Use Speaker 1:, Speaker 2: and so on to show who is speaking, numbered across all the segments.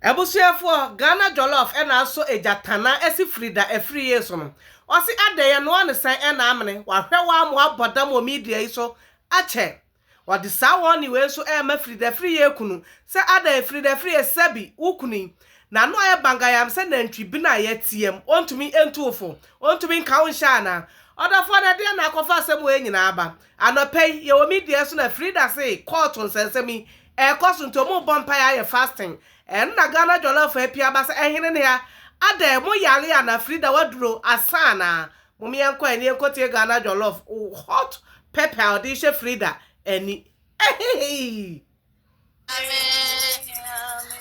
Speaker 1: Abusuafoɔ Ghana jollof ɛna asɔ egya tanaa ɛsi firi da ɛfiri yee so no ɔse adɛn yɛnoa no sɛn ɛna amene wahwɛ waa mo abɔ dam wɔ media yi so akyɛ ɔde saa warning wei nso ɛɛma firi da ɛfiri yee kunu sɛ adɛn firi da ɛfiri yee sɛbi wo kunu yi nano ayɛ bangayam sɛ nantwi bene a yɛteam ɔntumi ntu wo fo ɔntumi nka wo nhyɛ anaa ɔdɔfoɔ no ɛdeɛn na akɔfa asɛm wei nyinaa aba anɔpɛ yi yɛwɔ media so na frida se court nsɛnsɛm yi Ɛkɔ so nti ɔmo bɔ mpaeɛ ayɛ fasting ɛno na Ghana jɔlɔfo apia aba sɛ ɛhene nea adɛn mo yare ana Frida waduro asa ana mom yɛnkɔ ani yɛnkɔ tie Ghana jɔlɔf hot pepper a ɔde hyɛ Frida ani ɛheheii.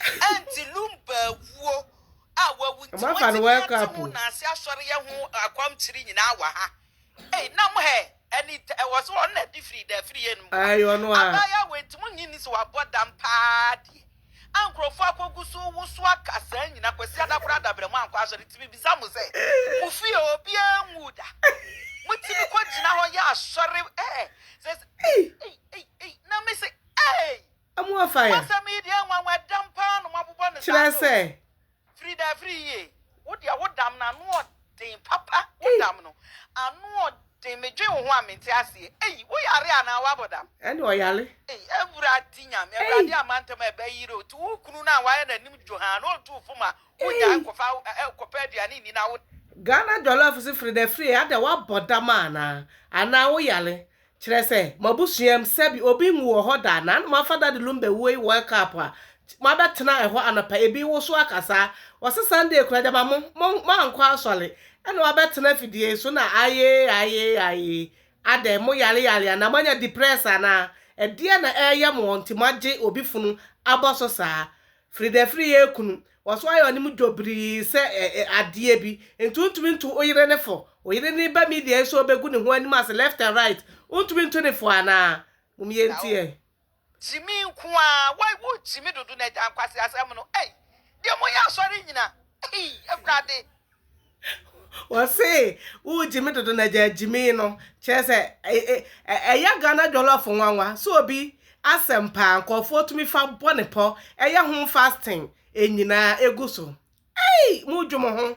Speaker 2: Ɛnti Lumba awuo a wawu nti Wɔafa no moatumi World ate Cup mo o.
Speaker 1: Naase asɔreyɛ
Speaker 2: ho akwankyiri nyinaa wɔ ha. Ei na mo hɛ ɛni tɛ ɛwɔ so ɔno na ɛde firi dɛ firi yɛ no mu a. Ae ɔno ara. Abaayewa
Speaker 1: wei nti monnye nni sɛ
Speaker 2: wabɔ dam paa deɛ a nkurɔfoɔ akɔgu so woso aka saa nyina Kwasi Ada koraa dabrɛ mu ankɔ asɔre nti mebisa mo sɛ mo fie obiara nwuu da motumi kɔgyina hɔ yɛ asɔre ɛɛ sɛ ei ei ei na mese ei. Amoa
Speaker 1: fire. Asɛm yi deɛ nwanwa ɛdam
Speaker 2: paa na ɔmo abobɔ no saa Kyerɛ no. sɛ.
Speaker 1: Firi da firi
Speaker 2: yie. Wo deɛ wo dam no ano ɔden papa wo Ei. dam no ano ɔden me dwen wo ho a me nte aseɛ ei wo yare anaa wo abɔ dam. Ɛna ɔyare.
Speaker 1: Ei awurade
Speaker 2: nyame Ei. awurade ama ntɛm a ɛbɛ yire o ti wo kunu no a wayɛ n'anim dwohaa na ɔtu wo fom a wo nyaa Ei. kɔfa ɛ kɔpɛ aduane nni na wo. Ghana jollof
Speaker 1: se fridafrie adɛ wabɔ dam anaa anaa wo yare Kyerɛ sɛ, mo abusuam, sɛbi obi nwu wɔ hɔ da, na na moafa Dade Lumbe wuo yi World Cup a, moabɛtena ɛhɔ anɔpa, ebi woso aka saa. Wɔse Sunday koraa, gyama mo, mo, moankɔ asɔre, ɛna woabɛtena afidie yi so na ayee, ayee, ayee. Adɛn, mo yare yare anaa? Moanya depress anaa? Ɛdeɛn na ɛreyɛ mo ɔnti moagye obi funu abɔ so saa? Fridafiri yɛ kunu. Wɔso ayɛ ɔne mu dwo birii sɛ adeɛ bi. Nti wontumi nto wo yere no fo. Wo yere no ba media yi so ɔbɛgu ne ho anim ase left and right. Wontumi nto no fo anaa? Mum yɛ nti ɛ. Gyimii
Speaker 2: nko aa wai wo gyimi dodo na agya nkwasi asɛm no ei deɛ mo yɛ asɔre nyina ei awurade. Wɔse
Speaker 1: wo gyimi dodo na gyaa gyimi no kyerɛ sɛ ɛyɛ Ghana jollof nwanwa sɛ obi asɛm paa nkurɔfoɔ tumi fa bɔ ne pɔ ɛyɛ ho fasting ɛnyinaa ɛgu so ei mo dwo mo ho.